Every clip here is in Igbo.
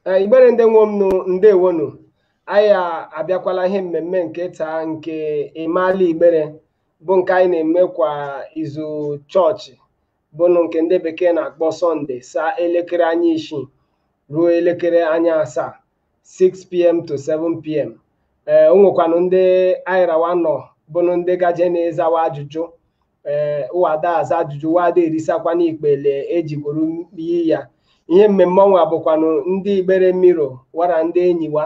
Ee, igbere ndị nwe m nụ ndewonu anyị a- abịakwala ihe mmemme nke taa nke ịmaala igbere bụ nke anyị na-eme kwa izu chọọchị bụnụ nke ndị bekee na-akpọ Sunday saa elekere anya isii ruo elekere anya asaa 6pm to 7pm ee o nwekwanụ ndị anyị ra wa nọ bụnụ ndị gaje na-ezawa ajụjụ ee wa da aza ajụjụ wa da erisakwana ikpeghe e ji gworo iyi ya ihe mmemme ọnwa bụkwanụ ndị igbere mmiri wara ndị enyi wa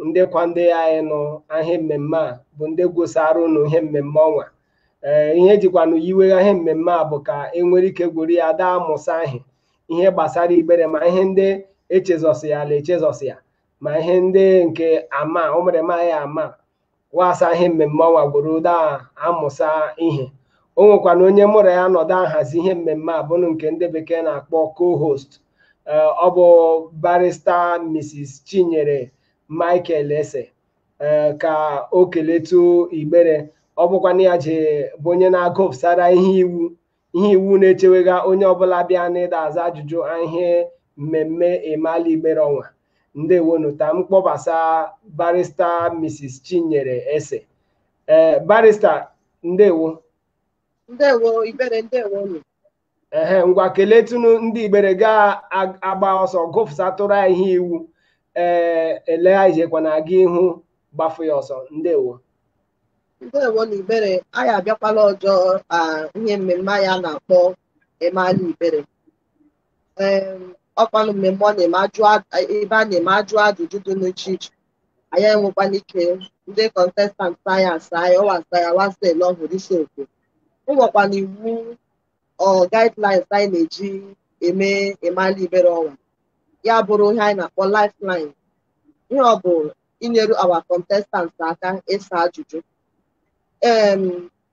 ndị kwa ndị anyị nụ ahịa mmemme a bụ ndị gwụsara ụnụ ihe mmemme ọnwa ee ihe e jikwanụ yiwegha ihe mmemme a bụ ka e nwere ike gwuru ya da amụsa ahị ihe gbasara igbere ma ihe ndị echezọsịala echezọsị ya ma ihe ndị nke ama ụmụrịma anyị ama wasa ihe mmemme ọnwa gworo da amụsa ihe o nwekwana onye mụ ra ya nọdụ ahazi ihe mmemme a bụnụ nke ndị bekee na-akpọ co-host eh, ọ bụ Barrister Mrs. Chinyere Michael Ese eh, ka o keletụ Igbere ọ bụkwanụ ya je bụ onye na-agụpụsara ihe iwu ihe iwu na-echewega onye ọbụla bịa n'ịda aza ajụjụ ihe mmemme ịmaala igbere ọnwa ndewonu ka m kpọbasa Barrister Mrs. Chinyere Ese ee Barrister ndewo ndewo igbere ndewo ehe ngwa keletụnụ ndị igbere gị agbaa ọsọ gụfụsatụrụ ya ihe iwu ee ele i jekwa na-aga ihu gbafụ ya ọsọ ndewo ndewonu igbere anyị abịakwala ọjọ ihe mmemme anyị a na-akpọ ịmaala igbere ọkwanụ mmemme ọ na-eme ajụ ebe a na-eme ajụ ajụjụ dị n'iche iche anyị enwekwana ike ndị contestants anyị asaa ọ wa sa ya wasa ele ọhụrụ isi okwu o nwekwana iwu or guidelines anyị na-eji eme ịmaala igbere ọnwa ya bụrụ ihe anyị na-akpọ lifeline ihe ọ bụ inyeru our contestants aka ịsa ajụjụ em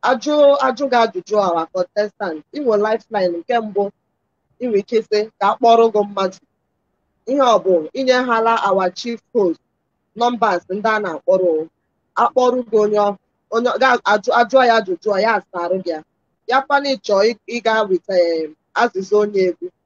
a jụ- a jụọ gị ajụjụ our contestant i nwe lifeline nke mbụ i nwe ike sị ka a kpọrọ gị mmadụ ihe ọ bụ i nyehala our chief host numbers ndị a na-akpọrọ akpọrọ gị onye ọ- onye ga-ajụ ajụọ ya ajụjụ ya asaarụ gị ya ya kwana ị chọ ịga with em, azịza onye egwu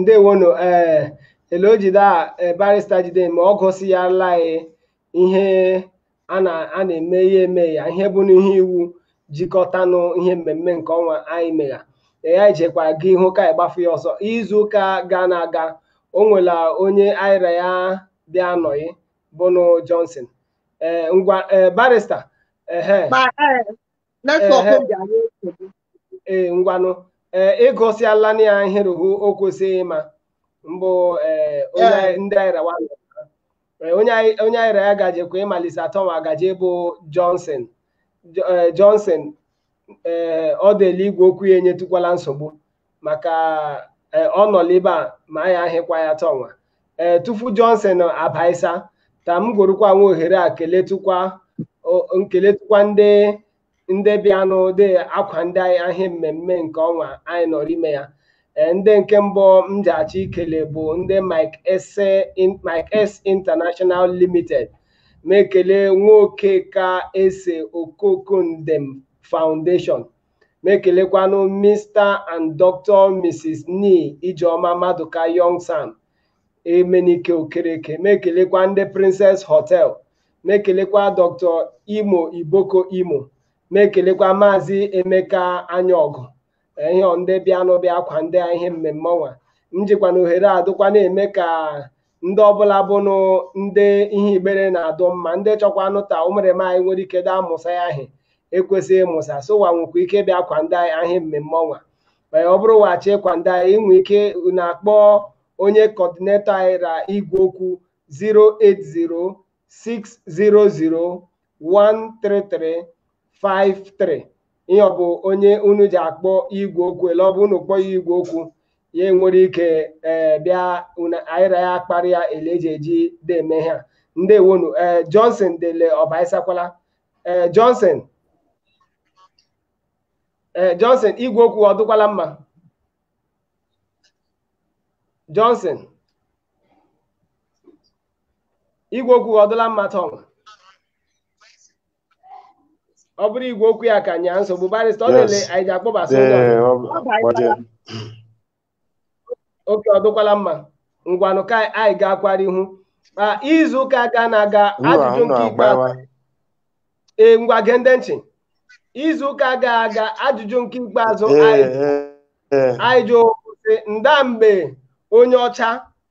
ndewonu ee ele o jide a ee, barista jide ma ọ gụsịala anyị ihe a na a na-eme ya eme ya ihe bụnụ ihe iwu jikọtanụ ihe mmemme nke ọnwa anyị megha ee anyị jekwa ga ihu ka anyị gbafu ya ọsọ izu ụka gara aga o nwela onye anyị ra ya bịa anọghị bụnụ Johnson ee ngwa ee Barrister ehe Ma, eh, Netwọk Ehe. m ji anyị nsogbu. ee ngwanụ ee ịgụsịala na ya ihe rụhụ o kwesịghị ịma mbụ ee onye Ee. anyị- ndị anyị ra wa nọ. Ee, onye anyị onye anyị ra ya gajekwa ịmalise ta ọnwa gaje bụ Johnson Jo- ee, Johnson ee ọ dịla igwe okwu ya enyetukwala nsogbu maka eh, ọ nọ n'ebe a ma anyị ahịkwa ya ta ọnwa ee eh, tufu Johnson abaisa ta m gworokwa nwa ohere a keletụkwa nkeletụkwa ndị ndị bịanụ dị akwande anyị ahị mmemme nke ọnwa anyị nọrọ ime ya eh, ndị nke mbụ m ja-achọ ikele bụ ndị Mike S International Limited m ekele nwoke ka ese Okoko Ndem Foundation m ekelekwanụ Mr and Dr Mrs Ni Ijeoma Maduka Youngson Emenike Okereke m ekelekwa ndị Princess Hotel m ekelekwa Dr Imo Iboko Imo m ekelekwa Maazị Emeka Anyaọgụ ihe ndị bịanụ bịa akwande anyị ihe mmemme ọnwa m jikwa nwa ohere a dụkwa na-eme ka ndị ọbụla bụnụ ndị ihe Igbere na-adụ mma ndị chọkwa anụta ụmụrịma anyị nwere ike da amụsa ya ahị ekwesị ịmụsa sowa nwekwa ike bịa akwande anyị ahị mmemme ọnwa ee ọ bụrụ wa chọ ịkwande anyị i nwe ike na-akpọ onye kọdinetọ anyị ra igwe okwu 600-13353 ihe ọ bụ onye unu ji akpọ igwe okwu ele ọ bụ unu kpọọ ya igwe okwu ya enwere ike ee bịa unu anyị ra ya akparị ya ele eji eji dị eme ha ndewo nụ ee Johnson dele ọ baisakwala ee Johnson ee Johnson igwe okwu ọ dụkwala mma Johnson igwe okwu ọ dịla mma ta ọnwa ọ bụrụ igwe okwu ya ka nyaa nsogbu barịsta ọ dịle Yes. anyị ji akpọbasị onye ọbụla. Ee, ọ bụ- gbajie. okay ọ dịkwala mma ngwanụ ka anyị ga-akwara ihu ma izu ụka ga na-aga Unu ajụjụ ahụ nke ikpeazụ na-agbawa. ee ngwa gee ndị nchị izu ụka ga aga ajụjụ nke ikpeazụ Ee, anyị ee, ee. anyị jụ sị nda mgbe onye ọcha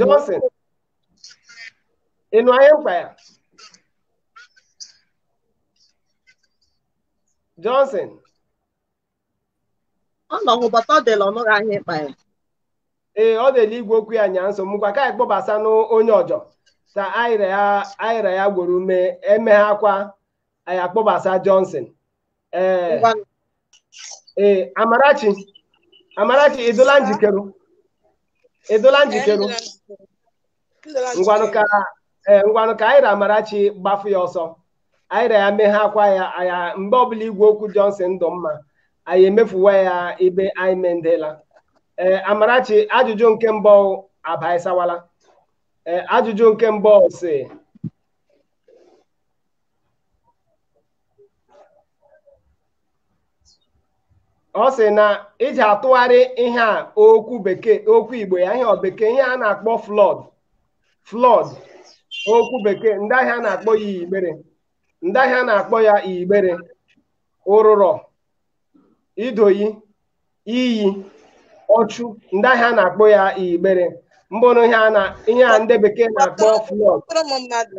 Johnson ị nụ anyị mkpa ya Johnson ọ nọ hụbata ọ dịla ọ nụghị ahịa ịkpa ya ee ọ dịla igwe okwu ya nya nsogbu kwa ka anyị kpọbasa n'onye ọjọ ka anyị ra ya anyị ra ya gworo ume emeghe akwa anyị akpọbasa Johnson ee Ngwa ee Amarachi Amarachi ị dịla njikere ị dịla njikere ngwanụ ka ee ngwanụ ka anyị ra Amarachi gbafụ ya ọsọ anyị ra ya meghe akwa ya aya mgbe ọbụla igwe okwu Johnson ndụ mma anyị emefuwa ya ibe anyị mendela ee Amarachi ajụjụ nke mbụ abaịsawala ee ajụjụ nke mbụ sị ọ sị na ị ji atụgharị ihe a okwu bekee okwu igbo ya ihe ọ bekee ihe a na-akpọ flood flood okwu bekee ndị ihe a na-akpọ ya igbere ndị ihe a na-akpọ ya igbere ụrụrọ idoyi iyi ọchụ ndị ihe a na-akpọ ya igbere mbụrụ ihe a na ihe a ndị bekee na-akpọ flood Kpọọrọ m mmadụ.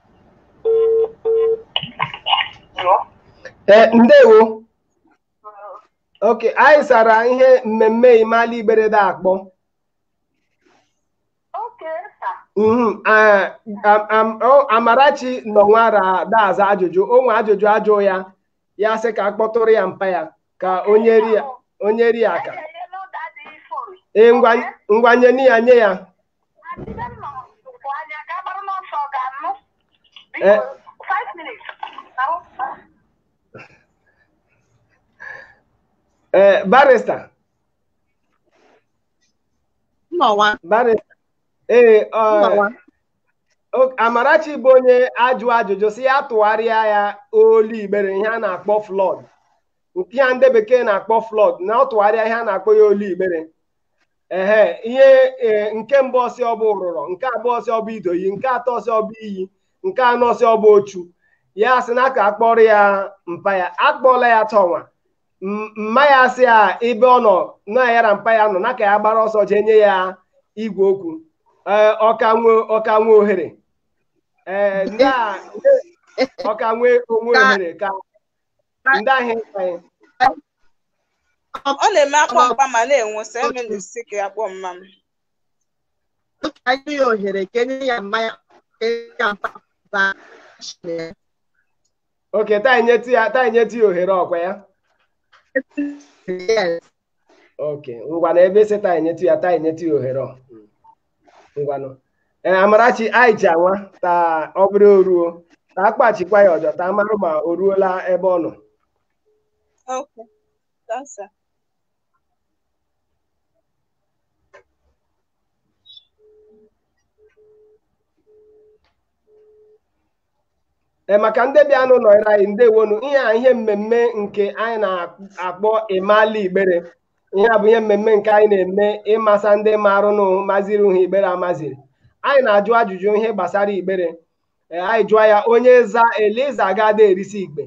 ee ndewo okay anyị sara ihe mmemme imala igbere de akpọ Mhm, ah, am- am- ọ- amarachi nọ nwara da-aza ajụjụ o nwe ajụjụ a jụụ ya ya sị ka a kpọtụrụ ya mpa ya ka o nyere ya o nyere ya aka ee ngwa ngwa nye ya nye ya Eh. Eh, barista barista ee eh, oh, oh, Amarachi bụ onye a jụ ajụjụ sị ya tụgharịa ya olu igbere ihe a na-akpọ flood nke a ndị bekee na-akpọ flood na ọ tụgharịa ihe a na-akpọ ya olu igbere ehe ihe e, nke mbụ ọ sị ọ bụ ụrụrọ nke abụọ ọ sị ọ bụ idoyi nke atọ ọ sị ọ bụ iyi nke anọ ọ sị ọ bụ ochu ya sị na ka a kpọọrọ ya mpa ya a kpọọla ya tọnwa M- mma ya sị ya ebe ọ nọ na ya ra mpa ya nọ na ka ya gbara ọsọ jee nye ya igwe okwu Ee, ọ ka nwe ọ ka nwe ohere ee ndị a ọ ka nwe o nwe Ka- ohere ka ndị ahịa ịta ya ọ na-eme a kpọọ mpa ma na-enwu sọ eme na isi ka ya kpọọ mma m otu anyị ya ohere ka e nye ya mma ya ka e nye ya mpa ba chie okay taa nyetụ ya taa nyetụ ya ohere ọ kwa ya yes okay ngwanụ ebe ese taa enyetụ ya taa enyetụ ya ohere ọ ngwanụ ee amarachi anyị ji anwa taa ọ bụrụ o ruo taa kpachikwa ya ọjọ taa marụ ma o ruola ebe ọ nọ Okay. That's it. maka ndị bịa anụ nọrọ anyị ndewonu ihe a ihe mmemme nke anyị na-akpọ ịmala igbere ihe a bụ ihe mmemme nke anyị na-eme ịmasa ndị marụ nụ maziri ha igbere amaziri anyị na-ajụ ajụjụ ihe gbasara igbere anyị jụọ ya onye za eliza agada erisi igbe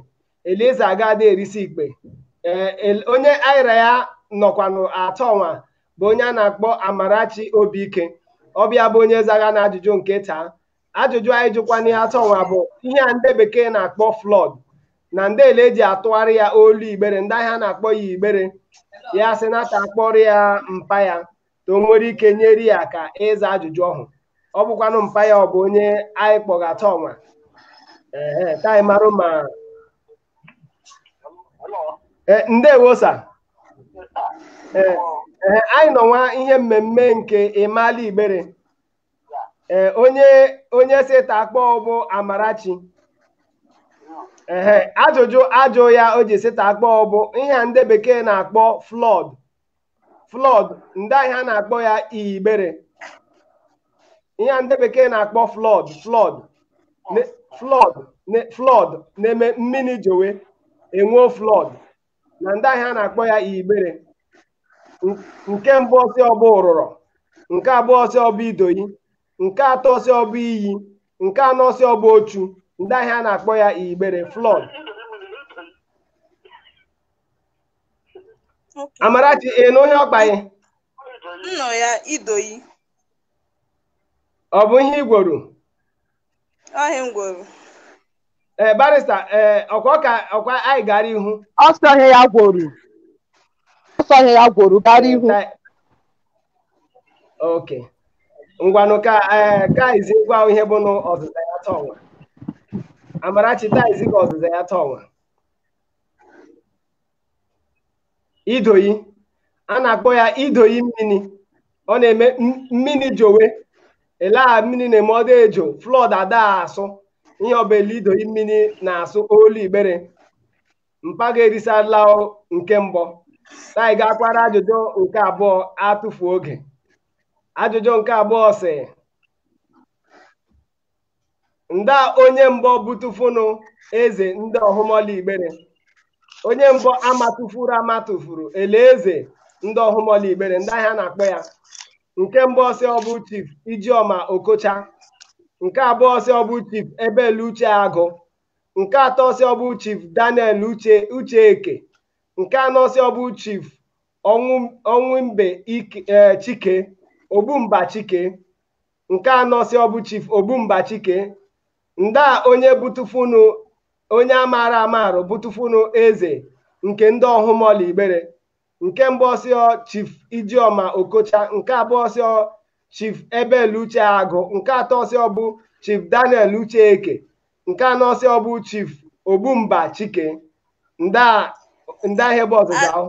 eliza agada erisi igbe onye anyị ra ya nọkwanụ atọ nwa bụ onye a na-akpọ amarachi obi ike ọ bụ ya bụ onye zagha na ajụjụ nke taa ajụjụ anyị jụkwanụ ya atọ nwa bụ ihe a ndị bekee na-akpọ flood na nda ele e ji atụgharị ya olu igbere nda ihe a na-akpọ ya igbere ya sị na ta akpọrọ ya mpa ya ta o nwere ike nyere ya aka ịza ajụjụ ọhụ ọ bụkwanụ mpa ya ọ bụ onye anyị kpọgha atọ nwa ee ka anyị marụ ma ndewo sa ee anyị nọ nwa ihe mmemme nke ịmala igbere ee onye onye sị ta akpọ bụ amarachi ehe ajụjụ ajụ ya o ji sị ta akpọ bụ ihe a ndị bekee na-akpọ flood flood nda ihe a na-akpọ ya igbere ihe a ndị bekee na-akpọ flood flood ne- flood ne- flood na-eme mmini jowe enwuo flood na nda ihe a na-akpọ ya igbere N- nke mbụ ọ sị ọ bụ ụrụrọ nke abụọ ọ sị ọ bụ idoyi nke atọ ọ sị ọ bụ iyi nke anọ ọ sị ọ bụ ochu nda ihe a na-akpọ ya igbere flood Okay. amarachi ị nụ ihe ọkpaghị Nnọ ya idoyi. ọ bụ ihe i gworo ọ ihe m gworo ee barista ee ọkwa ka ọkwa anyị gara ihu ọ sị ọ ihe ya gworo ọ sị ọ ihe ya gworo gara ihu ok ngwanụ ka ee ka izi gwa ihe bụnụ ọzịza ya taa ọnwa amarachi taa izi ka ọzịza ya taa ọnwa idoyi a na-akpọ ya idoyi mmini ọ na-eme mmini jowe ele a mmini na-eme ọdọ ejo flood ada asụ ihe ọ bụla idoyi mmini na-asụ olu igbere mpa gị erisala nke mbụ ta anyị gaakwara ajụjụ nke abụọ atụfu oge ajụjụ nke abụọ sị nda onye mbọ butufunu eze ndị ọhụmọla igbere onye mbọ amatụfuru amatụfuru ele eze ndị ọhụmọla igbere nda ihe a na-akpọ ya nke mbụ ọ sị ọ bụ chief ijeọma okocha nke abụọ ọ sị ọ bụ chief abel uche agụ nke atọ ọ sị ọ bụ chief daniel uche uche eke nke anọ ọ sị ọ bụ chief ọnwụ ọnwụ mbe Ike- eh, chike ogbumba chike nke anọ sị ọ bụ chief ogbumba chike nda onye butufunu onye amaara amarụ butufunu eze nke ndị ọhụmọla igbere nke mbụ ọ sị ọ chief ijioma okocha nke abụọ ọ sị ọ chief abel uche agụ nke atọ ọ sị ọ bụ chief daniel uche eke nke anọ ọ sị ọ bụ chief ogbumba chike nda nda ihe bụ ọzịza ahụ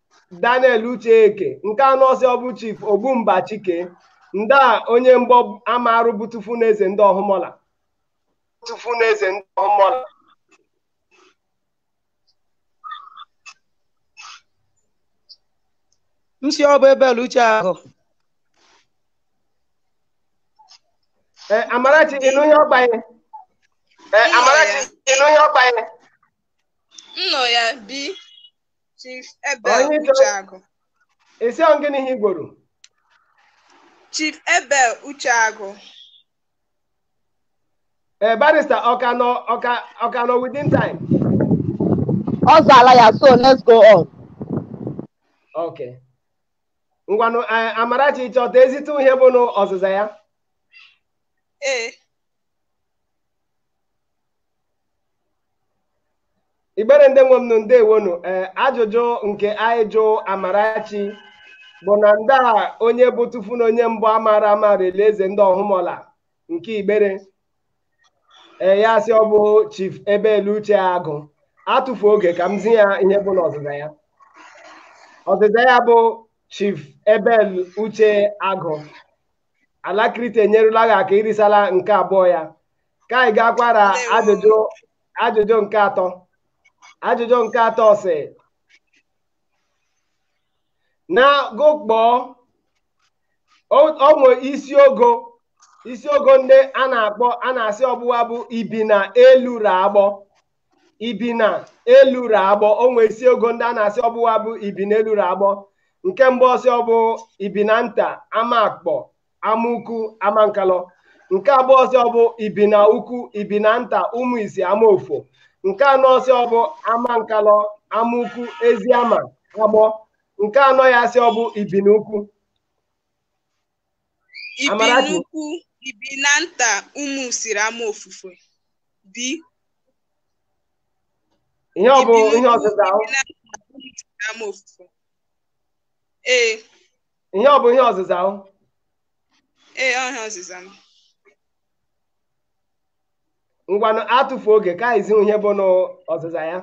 Daniel Ucheeke nke anọ ọ sị ọbụ Chief Ogbumba Chike nda onye mbụ amarụ bụ tufu n'eze ndị ọhụmọla tufu n'eze ndị ọhụmọla m sị ọ bụ Abel Ucheagụ ee Amarachi ịnụ ihe ọgbanye ee Amarachi ịnụ ihe ọgbanye nnọ ya bi Chief Abel Onye chọrọ- Ucheagụ. ị sị ọ gịnị ha igboro Chief Abel Ucheagụ. ee barista ọka nọ ọka ọka nọ within time Ọ zala ya so let's go on. ok ngwanụ eh, amarachi chọta ezite ihe bụ nụ ọzịza ya Ee. igbere ndị nwe m nụ ndewonu ee ajụjụ nke anyị jụ amarachi bụ na nda onye bụ tufu na onye mbụ amara ama rele eze ndị ọhụmọla nke igbere ee ya sị ọ bụ chief abel uche agụ atụfu oge ka m zi ya ihe bụ na ọzịza ya ọzịza ya bụ chief abel uche agụ alakrite enyerụla gị aka irisala nke abụọ ya ka anyị gakwaa ra ajụjụ ajụjụ nke atọ ajụjụ nke atọ sị na gụkpọọ o nwe isi ogo isi ogo ndị a na-akpọ a na-asị ọ bụ wa bụ ibina elu ra agbọ ibina elu ra agbọ o nwee isi ogo ndị a na-asị ọ bụ wa bụ ibina elu ra agbọ nke mbụ ọ sị ọ bụ ibina nta amakpọ amaukwu amankalụ nke abụọ ọ sị ọ bụ ibina ukwu ibina nta ụmụ isi amaofufe nke anọ ọ sị ọ bụ amankalụ amaukwu eziama agbọ nke anọ ya asị ọ bụ ibina ukwu ibi Amarachi. n'ukwu ibi na nta ụmụ usiri ama ofufe bi ihe ọ bụ ibi ihe n'ukwu, ọzịza ahụ ibi na nta, ụmụ usiri ama ofufe ee ihe ọ bụ ihe ọzịza ahụ ee ọhịa ọzịza m ngwanụ atụfu oge ka anyị zi ihe bụ n'ọzịza ya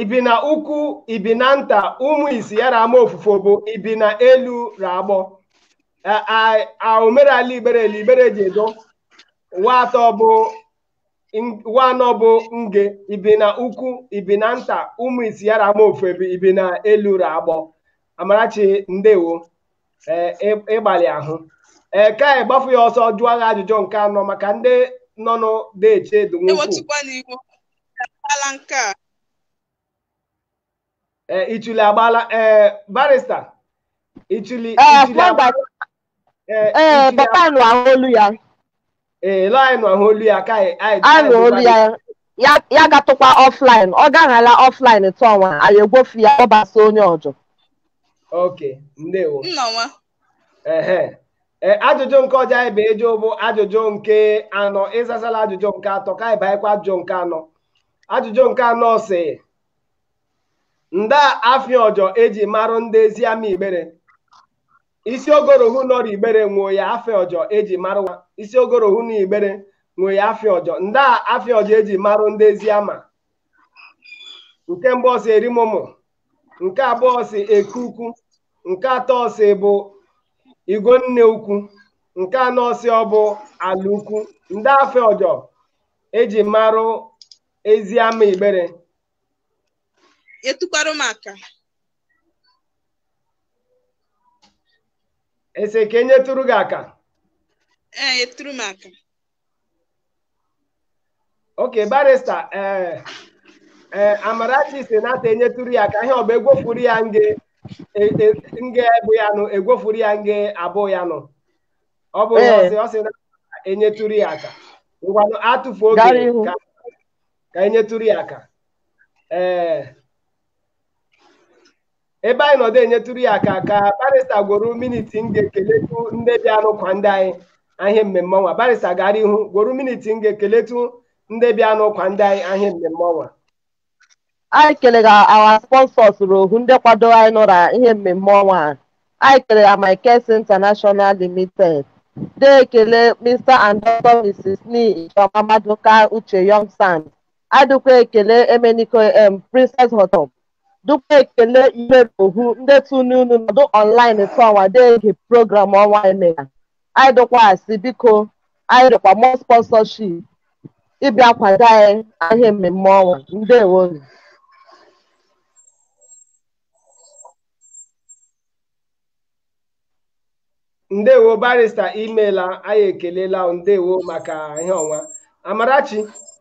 ibinaukwu ibinanta ụmụisi ya ra amaofufe bụ ibinaelu ra agbọ A- a- a omerala igbere ele igbere ji edo wa atọ bụ wa anọ bụ nge ibinaukwu ibinanta ụmụisi ya ra amaofufe bụ ibinaelu ra agbọ amarachi ndewo ee ị- ịgbalị ahụ ee ka anyị gbafu ya ọsọ jụọ gị ajụjụ nke anọ maka ndị nọ nụ de eche edu nwukwu ewetukwa n'ihu ala nke a ee ichuli agbaala ee barista ichuli ee ichuli agba- kwamba ee, ee ichuli papa anụ ahụ olu ya ee lọ anyị nụ ahụ olu ya ka anyị anyị anụ anyị olu ya ya ya gatụkwa ọflaịn ọ gaghala ọflaịn tụọnwa anyị egwofu ya ọ basa onye ọjọ oke ndewo nna nwa ehe ee ajụjụ nke ọjọ anyị bụ ejo bụ ajụjụ nke anọ ị zasala ajụjụ nke atọ ka anyị baịkwa ajụjụ nke anọ ajụjụ nke anọ sị nda afa ọjọ eji marụ nde eziama igbere isi ogo rohu nọ rọ igbere nwe ya afa ọjọ eji marụ wa isi ogo rohu na igbere nwe ya afa ọjọ nda afa ọjọ eji marụ nde eziama nke mbụ ọ sị erimụmụ nke abụọ ọ sị eke ukwu nke atọ ọ sị bụ igwu nne ukwu nke anọ ọ sị ọ bụ ala ukwu nda afa ọjọ eji marụ eziama igbere etukwara m aka ị sị ka enyetụrụ gị aka ee eturu m aka oke barista ee ee amarachi sị na ka enyetụrụ ya aka ihe ọ bụ egwofuru ya nge e- e- nge bụ ya nụ egwofuru ya nge abụ ya nụ ọ bụ ihe Ee. ọ sị ọ sị na enyetụrụ ya aka ngwanụ atụfu oge Gara ihu. ka ka enyetụrụ ya aka ee ebe anyị nọdụ enyetụrụ ya aka ka barista gworo miniti nge keletụ nde bịanụ kwado anyị ra ihe mmemme ọnwa barista gara ihu gworo miniti nge keletụ nde bịanụ kwado anyị ra ihe mmemme ọnwa anyị kelega our sponsors rohu ndị kwado anyị nụ ra ihe mmemme ọnwa a anyị kelega Amikes International Limited de ekele Mr and Dr. Mrs. Ni Ijeoma Maduka Uche Young Sam adịkwa ekele Emeniko M Princess Hotel dịkwa ekele Imerohu ndị tunu unu nọdụ online tụọnwa de ege program ọnwa emela anyị dọkwa asị biko anyị dọkwa mọ sponsorship ịbịa kwado anyị ihe mmemme ọnwa ndewo ndewo barista imela anyị ekelela ndewo maka ihe ọnwa amarachi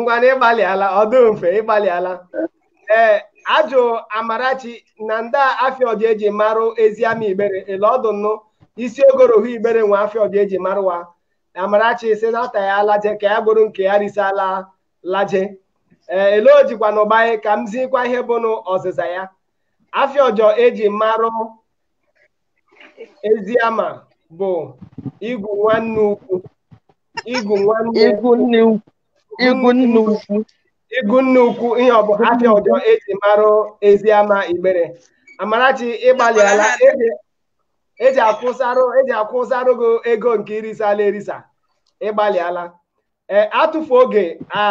ngwanụ ịgbalịala ọdụ mfe ịgbalịala ee ajụ amarachi na nda afịa ọjọ eji marụ ezi ama igbere ele ọdụ nụ isi ogorohu igbere nwe afịa ọjọ eji marụ wa amarachi si na ata ya alaje ka ya gburu nke ya risala laje ee ele o jikwa na ụgbanye ka m zikwa ihe bụ nụ ọzịza ya afịa ọjọ eji marụ ezi ama bụ igwu nwanne ukwu igwu nwanne igwu nne ukwu igwu nne ukwu igwu nne ukwu ihe ọ bụ afịa ọjọ eji marụ ezi ama igbere amarachi ịgbalịala eji eji akwụsarụ eji akwụsarụ gị ego nke irisala erisa ịgbalịala ee atụfu oge a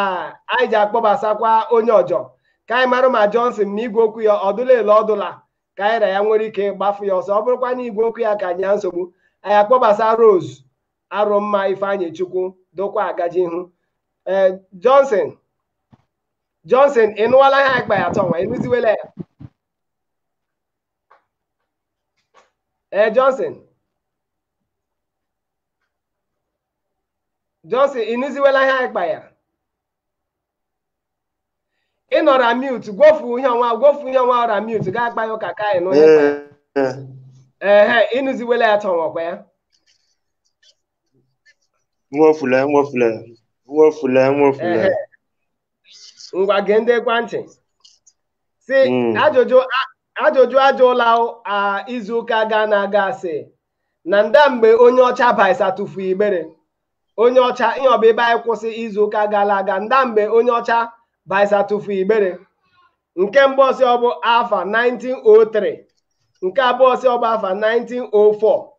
anyị ji akpọbasakwa onye ọjọ ka anyị marụ ma Johnson ma igwe okwu ya ọdụla ele ọdụla ka anyị ra ya nwere ike gbafu ya ọsọ ọ bụrụkwa na igwe okwu ya ka enye ya nsogbu anyị akpọbasa Rose Arụmma Ifeanyị Chukwu dụkwa agaje ihu ee Johnson Johnson ị nụwala ihe anyị kpa ya tọnwa ịnụziwela ya ee Johnson Johnson ịnụziwela ihe anyị kpa ya ị nọ ra mute gwofu ihe ọnwa gwofu ihe ọnwa ọ ra mute gaa akpa ya ụka ka anyị n'onye kpa ya. Ee, ee. ehe ịnụziwela ya tọnwakwa ya nwofule nwofule nwofule nwofule Ehe. ngwa gee ntị question sị Mm. ajụjụ a- ajụjụ ajụla a izu ụka gara aga sị na nda mgbe onye ọcha baisa tụfu igbere onye ọcha ihe ọbụ ebe anyị kwụsị izu ụka gara aga nda mgbe onye ọcha baisa tụfu igbere nke mbụ sị ọbụ afa 1903 nke abụọ sị ọbụ afa 1904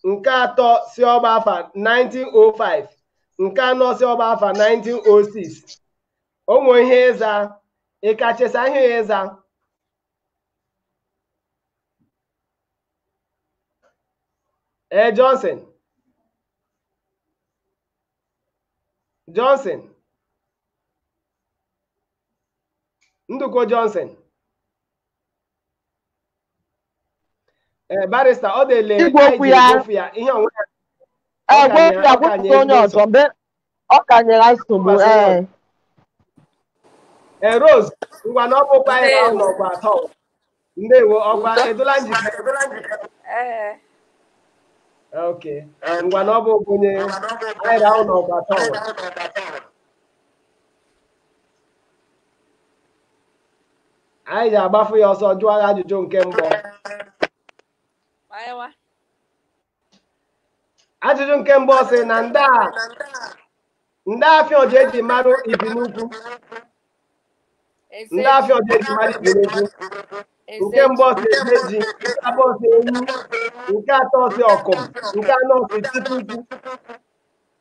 nke atọ sị ọbụ afa 1905 nke anọ sị ọbụ afa 1906 onwe ihe ịza ịkachesa ihe ịza ee Johnson Johnson Ndukwe Johnson ee barista ọ dele Igwe okwu ya. ya ihe onwe ya Ọ ka na- ọ ka na-ekwu onye ọzọ mgbe ọ ka nyere anyị nsogbu ee ee rose ngwa na ọ bụkwa anyị nọmba atọ ndewo ọ kwa ị dịla njikere Ee. ok ngwa na ọ bụ onye anyị nọmba atọ anyị ga-agbafu ya ọsọ jụọ ya ajụjụ nke mbụ Maịwa. ajụjụ nke mbụ ọ sị na ndị a ndị afịa ọja eji mara Ibinaukwu ndị afịa ọja eji mara Ibinaukwu nke mbụ ọ sị eze ji nke abụọ ọ sị enyi nke atọ ọ sị ọkụm nke anọ ọ sị chukwu ukwu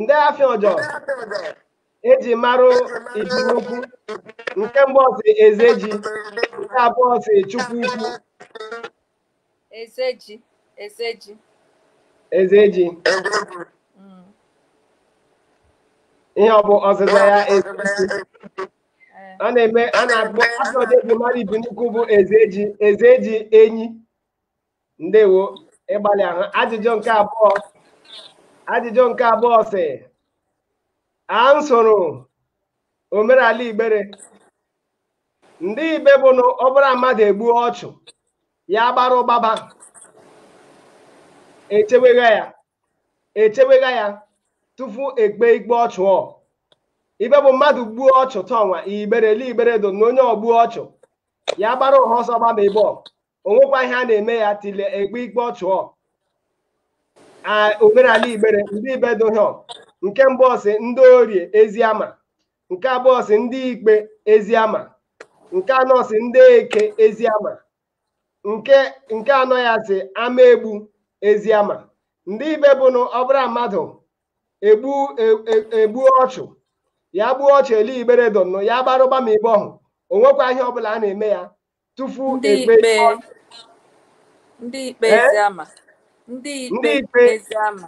ndị afịa ọjọọ eji marụ Ibinaukwu nke mbụ ọ sị eze ji nke abụọ ọ sị chukwu ukwu Ezeji. Ezeji. Ezeji. Mm. Ihe ọ bụ ọzịza ya Ezeji. Eh. A na-eme a na-akpọ a sị ihe eji mara Ibinaukwu bụ Ezeji. Ezeji enyi. Ndewo ị gbalịala. Ajụjụ nke abụọ. Ajụjụ nke abụọ sị a nsoro omenala Igbere ndị ibe bụ na ọ bụrụ mmadụ egbuo ọchụ ya gbara gbaba echewegha ya echewegha ya tupu ekpe ikpe ọchụ ọ ibe bụ mmadụ gbuo ọchụ tọnwa igbere ele igbere do na onye ọ gbuo ọchụ ya gbara ụha ọsọ gbaba ibe ọ o nwekwa ihe a na-eme ya till ekpe ikpe ọchụ ọ omenala igbere ndị ibe dị ihe ọ nke mbụ ọ sị ndị orie eziama nke abụọ ọ sị ndị ikpe eziama nke anọ ọ sị ndị eke eziama nke nke anọ ya sị ama egbu eziama ndị ibe bụ na ọ bụrụ mmadụ egbu e, e, egbuo ọchụ ya gbuo ọchụ ele igbere donnụ ya gbarụ gbama ibe ọhụ o nwekwa ihe ọbụla a na-eme ya tupu ndị ekpe ikpe ndị ikpe Ee? eziama ndị Ndị ikpe ikpe. eziama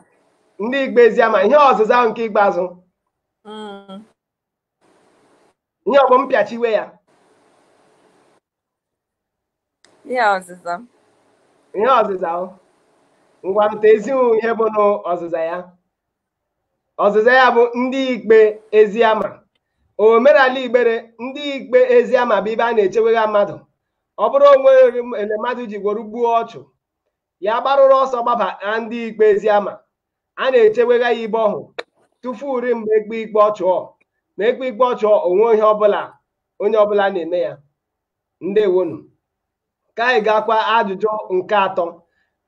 ndị ikpe eziama ihe ọzịza ahụ nke ikpeazụ Mm. ihe ọ bụ mpịachiwe ya ihe ọzịza m ihe ọzịza ahụ ngwarụta ezighị ihe bụ n'ọzịza ya ọzịza ya bụ ndị ikpe eziama omerala igbere ndị ikpe eziama bụ ibe a na-echewegha mmadụ ọ bụrụ o nwere ele mmadụ ji gworo gbuo ọchụ ya gbarụrụ ọsọ gbaba na ndị ikpe eziama a na-echewegha ya ibe ọhụ tufu uri mgbe ekpe ikpe ọchụ ọ ma ekpe ikpe ọchụ ọ o nwe ihe ọbụla onye ọbụla na-eme ya ndewonu ka anyị gaakwa ajụjụ nke atọ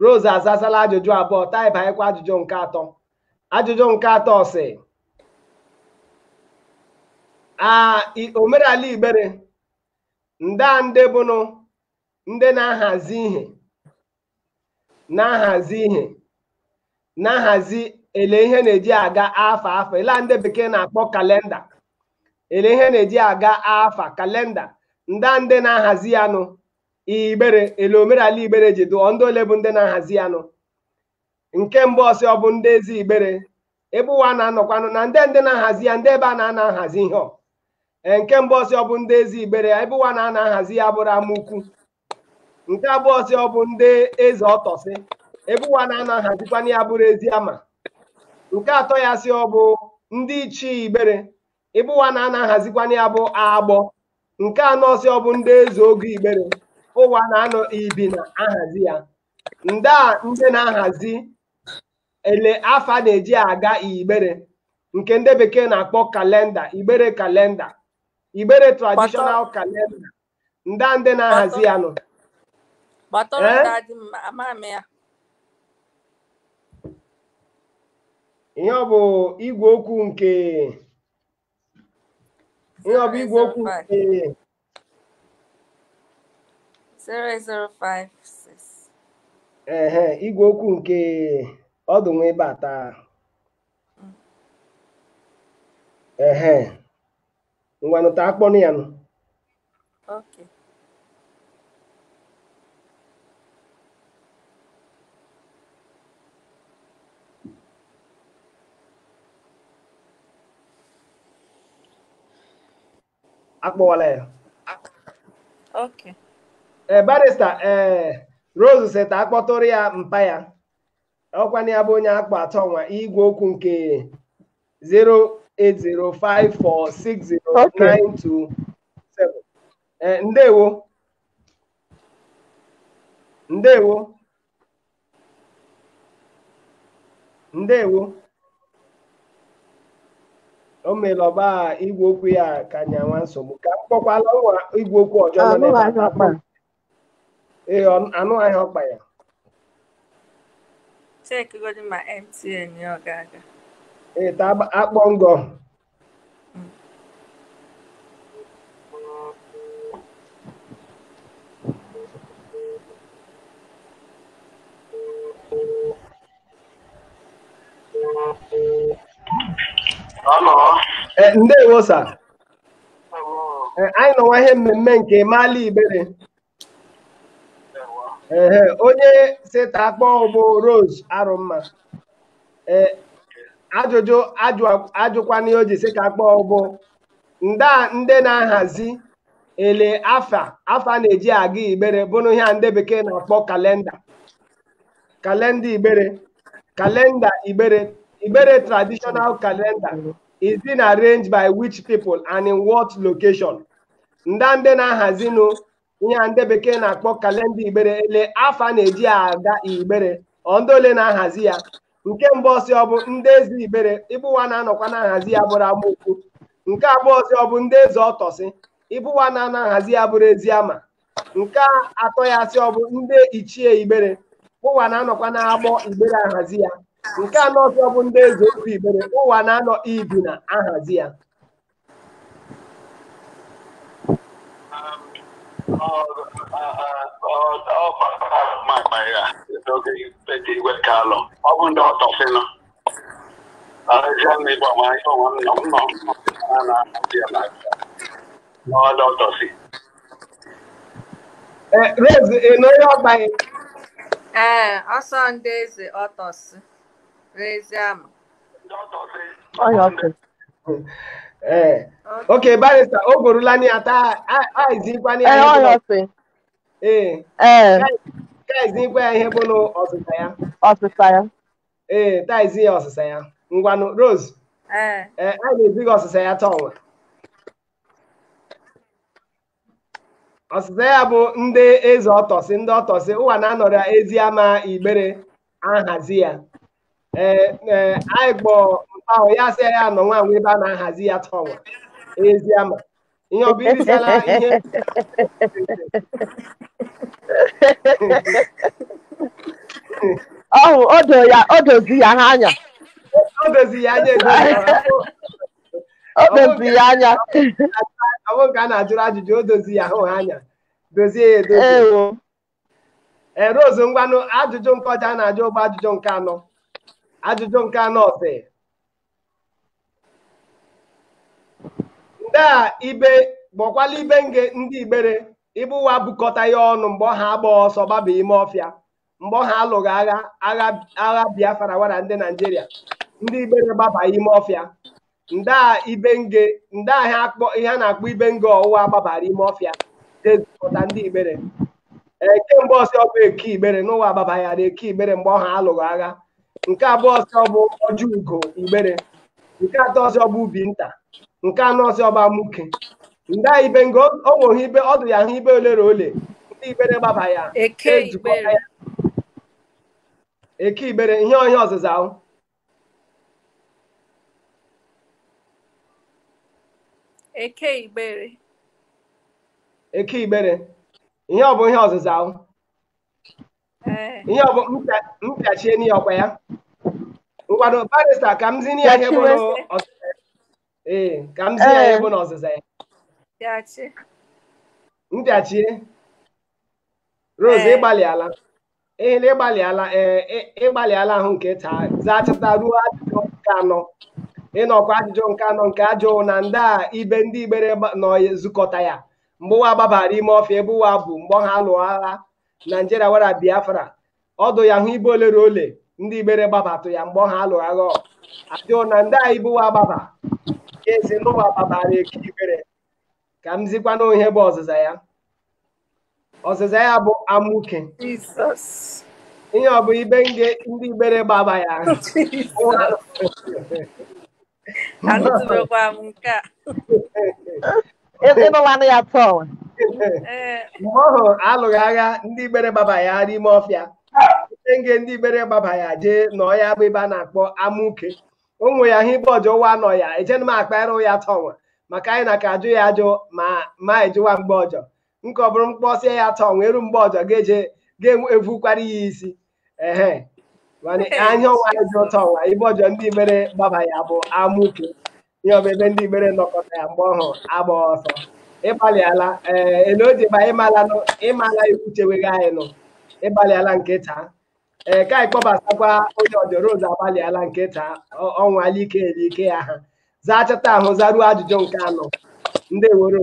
Rose azazala ajụjụ abụọ ta anyị banyekwa ajụjụ nke atọ ajụjụ nke atọ sị omerala igbere nda ndị bụnụ ndị na-ahazi ihe na-ahazi ihe na-ahazi ele ihe na-eji aga afa afa ele ndị bekee na-akpọ kalenda ele ihe na-eji aga afa kalenda ndị a ndị na-ahazi ya nụ igbere ele omerala igbere ji dụ ọ ndị ole bụ ndị na-ahazi ya nụ nke mbụ ọ sị ọ bụ ndị eze igbere ebe ụwa na-anọkwanụ na ndị ndị na-ahazi ya na ebe a na-anọ ahazi ihe ọ Ee, nke mbụ ọ sị ọ bụ ndị eze igbere ebe ụwa na-anọ ahazi ya bụrụ amaukwu nke abụọ sị ọ bụ ndị eze ọtọsị ebe ụwa na-anọ ahazikwanụ ya bụrụ eziama nke atọ ya sị ọ bụ ndị ichie igbere ebe ụwa na-anọ ahazikwanụ ya bụ agbọ nke anọ sị ọ bụ ndị eze ogo igbere ụwa na-anọ ibina ahazi ya ndị a ndị na-ahazi ele afa na-eji aga igbere nke ndị bekee na-akpọ kalenda igbere kalenda igbere traditional kalenda ndị a ndị na-ahazi ya nụ gbatọrọ Eh? ndị adị mma ama m ya ihe ọ bụ igwe okwu nke ihe ọ bụ igwe okwu nke 08056 ehe igwe okwu nke ọdụ nwa ebe a taa ehe ngwanụ ta a kpọnụ ya nụ Okay. a kpọwala ya Okay. ee barista ee Rose sị ta a kpọtụrụ ya mpa ya ọkwa na ya bụ onye akpa atọ nwa igwe okwu nke 080546092 Eh, ndewo ndewo ndewo o mere ọba igwe okwu ya ka nyawa nsogbu ka m kpọkwala nwa igwe okwu ọjọ nọ n'ebe a. ee ọ- anụ ahịa ọkpa ya chekigodi ma mtn ya ọ ga-aga ee ta agba- akpọ ngọ Hello. Eh, ndewo sa Eh, anyị nọwa ihe mmemme nke ịmaala igbere ehe onye si ta akpọ bụ rose arụmma ee ajụjụ ajụ- ajụkwana ihe o ji si ta akpọ bụ nda ndị na-ahazi ele afa afa na-eji aga igbere bụrụ ihe a ndị bekee na-akpọ kalenda kalenda igbere kalenda igbere igbere traditional kalenda is being arranged by which people and in what location nda ndị na-ahazinụ ihe a ndị bekee na-akpọ kalenda igbere ele afa na-eji aga igbere ọ ndị ole na-ahazi ya nke mbụ ọ sị ọ bụ ndị eze igbere ebe ụwa na-anọkwa na-ahazi ya bụrụ amaukwu nke abụọ sị ọ bụ ndị eze ọtọsị ebe ụwa na-anọ ahazi ya bụrụ eziama nke atọ ya sị ọ bụ ndị ichie igbere ụwa na-anọkwa na agbọ igbere ahazi ya nke anọ sị ọ bụ ndị eze ọfọ igbere ụwa na-anọ ibina ahazi ya ọ bụ ndị ọtọfịnụ ọrịa ndị bụ ọmụma ihe ọmụma nọ m nọ m nọ na-ahụ ya na ọdọ ọtọfị Eh, Rose, ị nọ onye ọgba ya? Ee, ọsọ ndị eze ọtọsị n'eziama. Ọya ọkụ. Eh, ok, barista, o gborula ni ya, taizikwa ni Ee, ọya ọsị. Ee, Ee, taizikwa ya ihe bụ na ọsịsa ya. ọsịsa ya. Ee, taizi ya ọsịsa ya. Ngwanụ, Rose, Ee, eh, anyị na-ezi gị ọsịsa ya taa ọnwa. ọsịsa ya bụ ndị eze ọtọsị ndị ọtọsị ụwa na-anọrọ eziama igbere ahazi ya ee ee anyị kpọ ahụ ya sị ya nọ nwa nwa ebe a na-ahazi ya tọwa eziama ihe ọ bụ irisala ihe ọhụ odo ya odozi ya ha anya o dozi ya anya edo ya ọ dozi ya anya ọ bụrụ ka a na-ajụrụ ajụjụ o dozi ya hụ ha anya dozie ya edozi ewo ee Rose ngwanụ ajụjụ nke ọjọ a na-ajụ bụ ajụjụ nke anọ ajụjụ nke anọ sị ndee ibe bụkwala ibe nge ndị igbere ibe ụwa bukọta ya ọnụ mgbe ọhụ a gbagha ọsọ gbaba ime ọfịa mgbe ọhụ a lụgha agha agha agha biafra wara ndị naijiria ndị igbere gbabara ime ọfịa ndee ibe nge ndee ihe a na-akpọ ibe nge ọhụ ụwa gbabara ime ọfịa zukọta ndị igbere ee nke mbụ ọ sị ọ bụ eke igbere n'ụwa gbaba ya ra eke igbere mgbe ọhụ a lụgha agha nke abụọ ọzọ bụ ọjọ ugo igbere nke atọ ọzọ bụ ubi nta nke anọ ọzọ bụ amuke ndee ibe nge o nweghị ibe ọ dụ ya hụ ibe ole ra ole ndị igbere gbaba ya Eke ejikọta Igbere. ya. eke igbere ihe ọ bụ ọzịza ahụ Eke Igbere. eke igbere ihe ọ bụ ihe ọzịza ahụ Ee, ihe ọ bụ mpịa- mpịachie n'ihe ọkwa ya ngwado barista ka m zinye ya ihe bụ Pịachiwe. n'ọzịza ya. ee ka m zinye ya ihe Ee. bụ n'ọzịza ya pịachie. mpịachie rose Ee. ị gbalịala ehele ị gbalịala ee ị- ị gbalịala ahụ nke taa zachata ruo ajụjụ nke anọ ị nụkwa ajụjụ nke anọ nke a jụ na ndee ibe ndị igbere gba- nọ zukọta ya mgbe ụwa gbabara ime ọfịa ebe ụwa bụ mgbe ọhụ a lụgha agha naijiria wara biafra ọ dụ ya hụ ibe ole ra ole ndị igbere gbabatụ ya mgbe ọhụ a lụgha ọgụ a jụọ na ndee ibe ụwa gbaba ya ị sị n'ụwa gbabara eke igbere ka m zikwanụ ihe bụ ọzịza ya ọzịza ya bụ amuke Jesus. ihe ọ bụ ibe nge ndị igbere gbaba ya Jesus. anụtụbekwa m nke a ị nụla anụ ya tọọ ee mgbe ọhụ a lụgha agha ndị igbere gbaba ya ra ime ọfịa nge ndị igbere gbaba ya jee nọ ya bụ ibe a na-akpọ amuke o nwe ya hụ ibe ọjọ ụwa nọ ya ejena m akpa ịrụ ya tọnwa maka anyị na ka ajụ ya ajụ ma ma ejụwa mgbe ọjọ nke ọ bụrụ m kpọsịa ya tọnwa e ru mgbe ọjọ ga-eje ga-evukwara ya isi ehe mana anya ọnwa ya dị ụtọ ọnwa ibe ọjọ ndị igbere gbaba ya bụ amuke ihe ọ bụ ibe ndị igbere nọkọta ya mgbe ọhụ a gbagha ọsọ ị gbalịala ee ele o ji ba ịmala nụ ịmala iwu cheweghị anyị nụ ị gbalịala nke taa ee ka anyị kpọbatakwa onye ọjọ rose agbalịala nke taa ọ- ọnwa alike elike ya ha zachata ahụ zaruo ajụjụ nke anọ ndị woro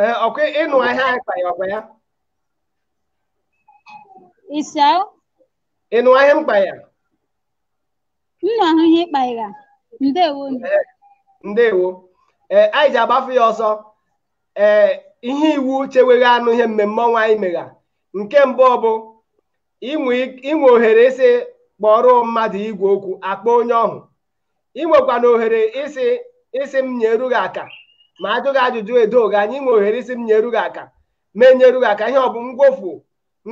ee ọkwa ị nụa ihe anyị kpara ọkwa ya ị nụa ihe m kpa ya nnụ ahụ ihe ị kpa ya ndewo ndewo ee anyị ji agbafu ya ọsọ ee ihe iwu chewere anụ ihe mmemme ọnwa anyị megha nke mbụ bụ i nwe ohere ịsị kpọrọ mmadụ igwe okwu a kpọ onye ọhụ ị nwekwana ohere ịsị ịsị m nyeru gị aka ma a jụ gị ajụjụ edo gị anya ị nwe ohere ịsị m nyeru gị aka ma enyeru gị aka ihe ọ bụ ngwofu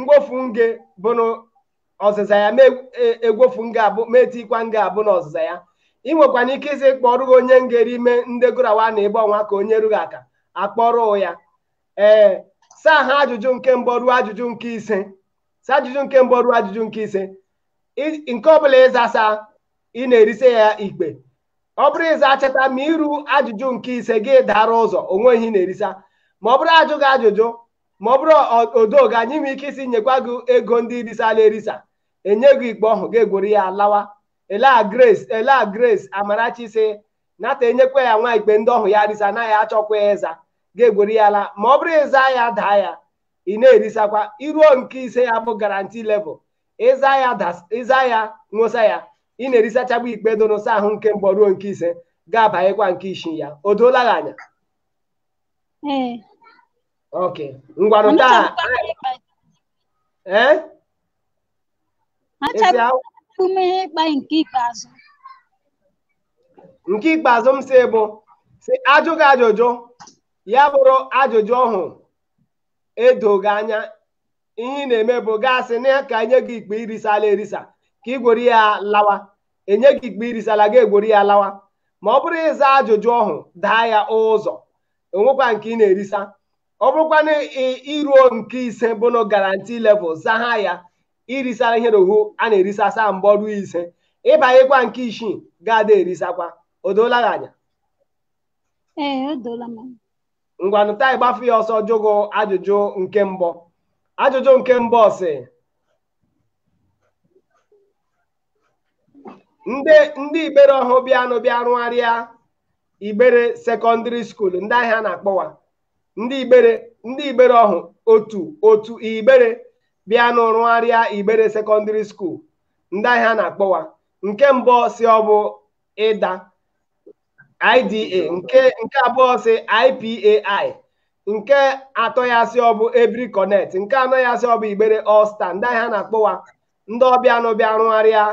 ngwofu nge bụ na ọzịza ya ma egwofu nge abụ ma etikwa nge abụ na ọzịza ya ị nwekwana ike ịsị kpọrọ gị onye nge rị ime ndị gụrawa na ịgba ọnwa ka o nyeru gị aka akpọrọ ya ee saa ha ajụjụ nke mbụ ruo ajụjụ nke ise saa ajụjụ nke mbụ ruo ajụjụ nke ise nke ọbụla ị zasa ị na-erise ya ikpe ọ bụrụ ị zachata ma i ru ajụjụ nke ise gị dara ụzọ o nwe ihe ị na-erisa ma ọ bụrụ a jụ gị ajụjụ ma ọ bụrụ o do gị anya ị nwee ike ịsị nyekwa gị ego ndị ị risala erisa enye gị ikpe ọhụ gị egwere ya lawa elea grace elea grace amarachi sị nata enyekwa ya nwa ikpe ndị ọhụ ya risa na ya achọkwa ya ịza gị egwere ya la ma ọ bụrụ ị za ya daa ya ị na-erisakwa i ruo nke ise ya bụ guarantee level ị za ya that's ị za ya nwụsa ya ị na-erisachagbu ikpe do n'ụsa ahụ nke mbụ ruo nke ise gị abanyekwa nke isii ya o doola gị anya Ee. ok ngwanụ Mana taa chọrọ m ịkpa ya. ee Achọrọ esi ahụ m ihe ịkpa nke ikpeazụ. nke ikpeazụ m si bụ sị a jụ gị ajụjụ ya bụrụ ajụjụ ọhụ edo gị anya ihe ị na-eme bụ gị asị na ya ka enye gị ikpe i risala erisa ka ị gwere ya lawa enye gị ikpe i risala gị egwere ya lawa ma ọ bụrụ ị zaa ajụjụ ọhụ daa ya ụzọ o nwekwa nke ị na-erisa ọ bụrụkwa na i ruo nke ise bụ na guarantee level zaha ya i risala ihe na ọhụ a na-erisa saa mbụ ruo ise ị banyekwa nke isii ga-ada erisakwa o doola gị anya Ee, o doola m anya. ngwanụ taa ịgbafu ya ọsọ jụ gị ajụjụ nke mbụ ajụjụ nke mbụ sị ndị ndị igbere ọhụ bịanụ bịa rụgharịa igbere secondary school ndị aha a na-akpọ wa ndị igbere ndị igbere ọhụ otu otu igbere bịanụ rụgharịa igbere secondary school ndị aha a na-akpọ wa nke mbụ sị ọ bụ ịda IDA nke nke abụọ sị IPAI nke atọ ya sị ọ bụ Ebiri Connect nke anọ ya sị ọ bụ Igbere All Star nda ihe a na-akpọ wa ndị ọ bịanụ bịa rụgharịa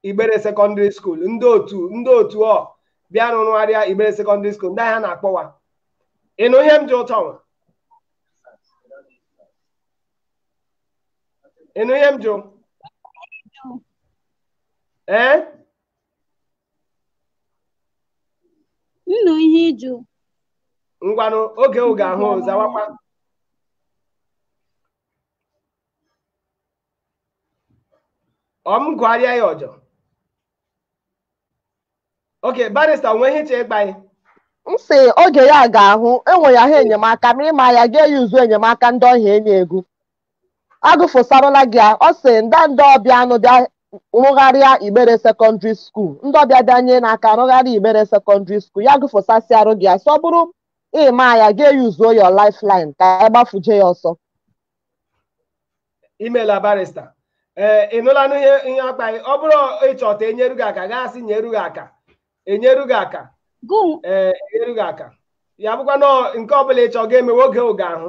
Igbere Secondary School ndị otu ndị otu bịanụ rụgharịa Igbere Secondary School nda ihe a na-akpọ wa ị nụ ihe m jụ ụtọ nwa ị nụ ihe m jụ ee M nụ ihe ị jụ. ngwanụ oge oge ahụ zawakwa ọ m gụgharịa ya ọjọ okay barista o nwe ihe ị che ịgba anyị m sị oge ya ga-ahụ enwe ya ha enyemaka ma ị ma ya ga-eyuzu enyemaka ndị ọhịa enye ego a gụfụsarala gị ya, ọ sị nda ndị ọ bịanụ bịa rụgharịa Igbere sekọndịrị skuul ndị ọbịa bịa nyenụ aka rụgharịa Igbere sekọndịrị skuul ya gụfụsasịarụ gị ya sị ọ bụrụ ị ma ya ga-eyuzuo your lifeline ka anyị gbafuje ya ọsọ imela barista ee ị nụla ihe a kpa gị ọ bụrụ ị chọ ta e nyeru gị aka gaa sị nyeru gị aka enyeru gị aka gụm ee enyeru gị aka ya bụkwa nọọ nke ọbụla ị chọ ga-emewe oge oge ahụ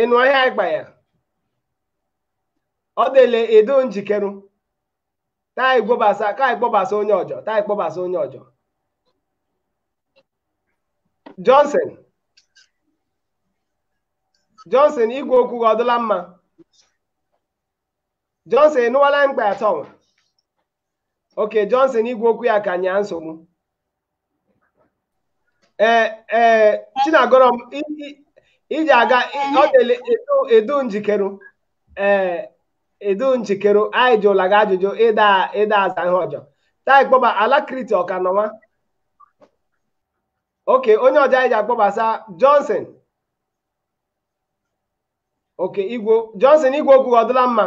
ị nụ ihe anyị kpa ya ọ dịle ị dụ njikerụ ta anyị kpọbasa ka anyị kpọbasa onye ọjọ ta anyị kpọbasa onye ọjọ Johnson Johnson igwe okwu gị ọ dụla mma Johnson ị nụwala mkpa ụtọ nwa okay Johnson igwe okwu ya ka nye nsogbu ee ee Chinagọrọm i- i- iji aga i- ọ dịle ị dụ ị dụ njikeru ee ị dụ njikeru anyị jụla gị ajụjụ ị da ị da aza ihe ọjọ ta anyị kpọba Alacrity ọ ka nọ nwa okay onye ọjọ anyị ji akpọbasa Johnson okay igwe Johnson igwe okwu gị ọ dịla mma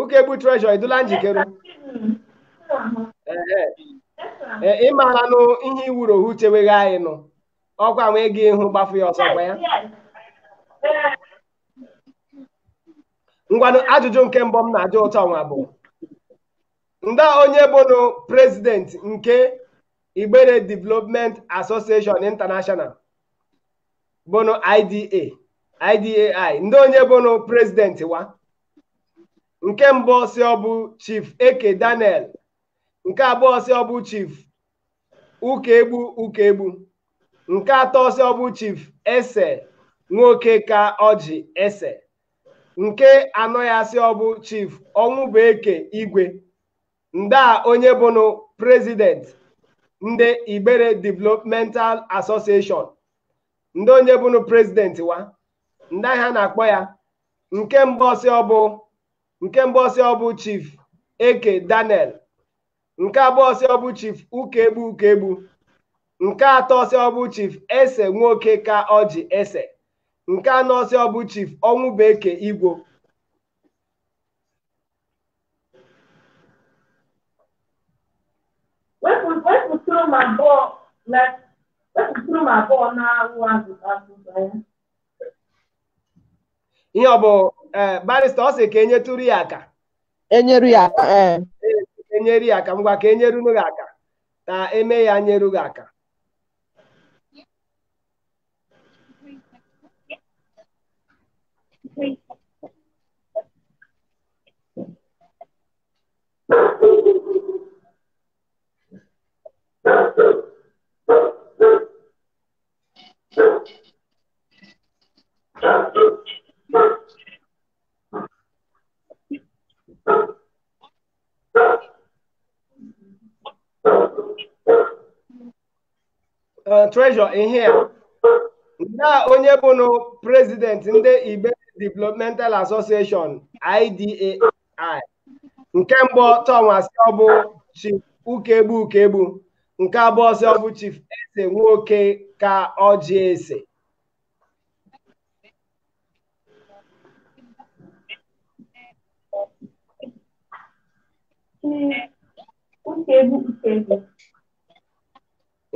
Ukegbu Treasure ị dụla njikere ee ị maalanụ ihe iwuru ohu cheweghị anyị nụ ọkwa nwee gị ịhụ gbafu ya ọsọ gwa ya ngwanụ ajụjụ nke mbụ m na-ajụ ụtọ nwa bụ nda onye bụnụ president nke Igbere Development Association International bụnụ IDA IDAI nda onye bụnụ president wa nke mbụ ọ sị ọ bụ chief eke daniel nke abụọ ọ sị ọ bụ chief ụkaegbu ụkaegbu nke atọ ọ sị ọ bụ chief ese nwoke ka ọjị ese nke anọ ya sị ọ bụ chief ọnwụbụeke igwe nda onye bụnụ prezident ndị igbere developmental association nde onye bụnụ prezident wa nde gha a na-akpọ ya nke mbụ ọ sị ọ bụ nke mbụ ọ sị ọ bụ chief eke daniel nke abụọ ọ sị ọ bụ chief ụkaegbu ụkaegbu nke atọ ọ sị ọ bụ chief ese nwoke ka ọjị ese nke anọ ọ sị ọ bụ chief ọnwụbụeke igwe wepụtụrụ m abụọ na wepụtụrụ m abụọ na-awụ azịza ya ihe ọ bụ ee barista ọ sị ka e nyetụrụ ya aka e nyeru ya aka ee e nyere ya aka ngwa ka e nyerunu gị aka ka e mee ya nyeru gị aka Uh, treasure in here. nda onye bụnụ prezidenti ndị igbere developmental association IDA nke mbụ tọm a sị ọ bụ chief ụkaegbu ụkaegbu nke abụọ sị ọ bụ chief ese nwoke ka ọjị ese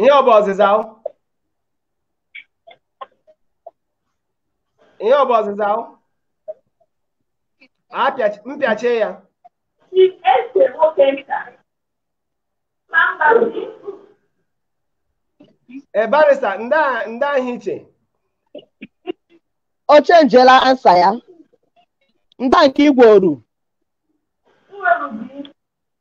ihe ọ bụ ọzịza o? ihe ọ bụ ọzịza ahụ Apịachi- mpịachie ya Chief ese nwoke nta. Ma mba ndị e barista ndị a- ndị ahụ iche o chenjiela ansa ya nda nke igwe oru nwere ubi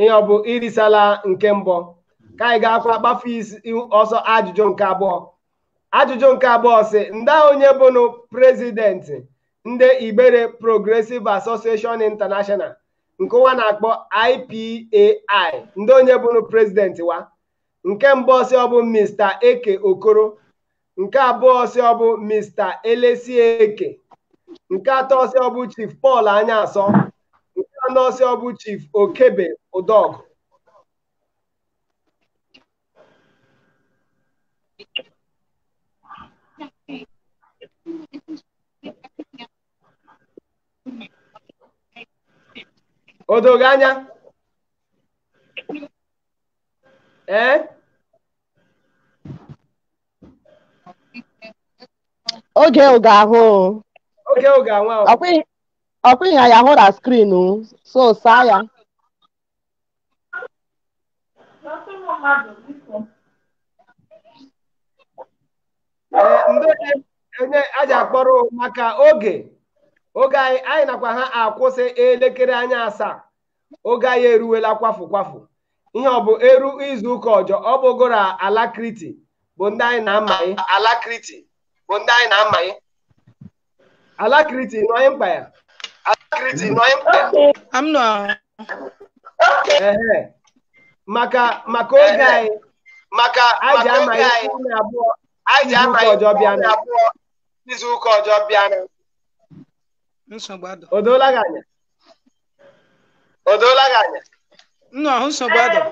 ihe ọ bụ i risala nke mbụ ka anyị gaakwa gbafe ọsịịsọ ajụjụ nke abụọ ajụjụ nke abụọ sị nde onye bụnụ prezidenti ndị Igbere Progressive Association International nke wa na-akpọ IPAI nde onye bụnụ prezidenti wa nke mbụ ọ sị ọ bụ Mr. Eke Okoro nke abụọ sị ọ bụ Mr. Elesieke nke atọ sị ọ bụ Chief Paul Anyaasọ nke anọ sị ọ bụ Chief Okebe Udọgụ o do ghị anya ee oge ahụ ga-ahụ oge oge anwa ahụ ọkwa ihe ya hụ na screen so saa ya Ee, ndị onye a ji akpọrọ maka oge oge anyị anyị nakwa ha akwụsị elekere anya asaa oge anyị eruwela kwafu kwafu ihe ọ bụ eru izu ụka ọjọ ọ bụgoro alakriti bụ ndị anyị na-amaghị alakriti bụ ndị anyị na-amaghị alakriti nọ anyị mkpa ya alakriti nọ anyị mkpa ya maka maka oge anyị maka anyị ji amaghị na abụọ anyị ji amaghị ọjọ bịa na abụọ izu ụka ọjọ bịa na o doola gị anya o doola gị anya nnụ ahụ nsogbu adọ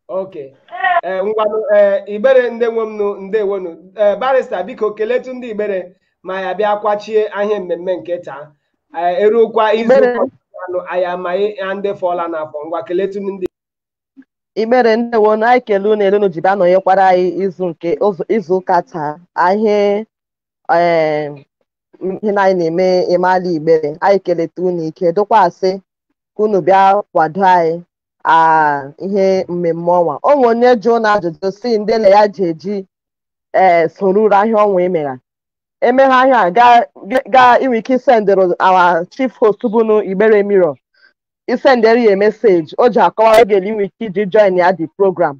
okay ee ngwanụ ee igbere ndị nwe m nụ ndewonu ee barrister biko keletu ndị igbere ma ya bịa kwachie ihe mmemme nke taa ee eruokwa izu Igbere. ụka anụ anyị amaghị ya ndị fọla n'afọ ngwa keletu ndị igbere ndewonu anyị kele unu ele unu ji bịa nọnyekwara anyị izu nke ụzọ- izu ụka taa anyị ee ihe na anyị na-eme ịmala igbere anyị keleta unu ike dụkwa asị ka unu bịa kwado anyị aa ihe mmemme ọnwa o nwe onye jụ na ajụjụ sị ndị ele ya ji eji ee soruru ahịa ọnwa emegha emegha ahịa a, gaa gaa i nwe ike isendịrụ our chief host bụnụ igbere mirror i sendere ya message o ji akọwara gị ele i nwe ike iji join ya the program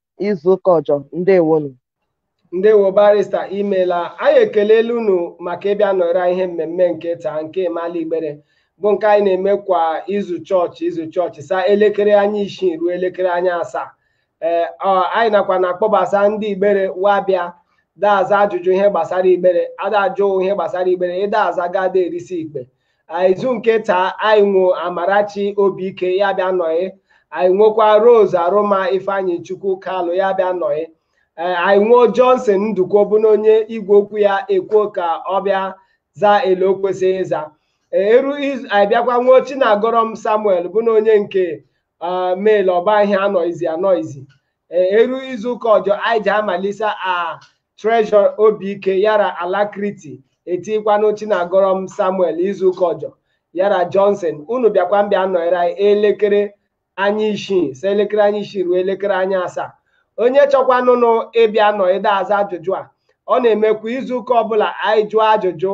izu ụka ọjọ ndewonu ndewo barrister imela anyị ekelela unu maka ịbịa nọrọ ihe mmemme nke taa nke ịmala igbere bụ nke anyị na-eme kwa izu chọọchị izu chọọchị saa elekere anya isii ruo elekere anya asaa ee anyị nakwa na-akpọbasa ndị igbere wa bịa da-aza ajụjụ ihe gbasara igbere a da-ajụ ihe gbasara igbere ị da-aza gada erisi ikpe izu nke taa anyị nwo amarachi obike ya bịa nọyị anyị nwekwa rose arụma ifeanyịchukwu kalụ ya bịa nọyị ee anyị nwuo johnson ndukwe bụ na onye igwe okwu ya ekwuo ka ọ bịa zaa ele o kwesịrị ịza eru izu anyị bịakwa nwuo chinagọrọm samuel bụ na onye nke ah, mail ọ bụ ihe anọizi anọizi Eh, e ruo izu ụka ọjọ anyị ji amalisa a treasure obi ike yara alacrity etikwanụ chinagọrọm samuel izu ụka ọjọ yara johnson unu bịakwa mbịa nọnyere anyị elekere anya isii si elekere anya isii ruo elekere anya asaa onye chọkwanụnụ ịbịa nọ ede aza ajụjụ a ọ na-emekwa izu ụka ọbụla anyị jụọ ajụjụ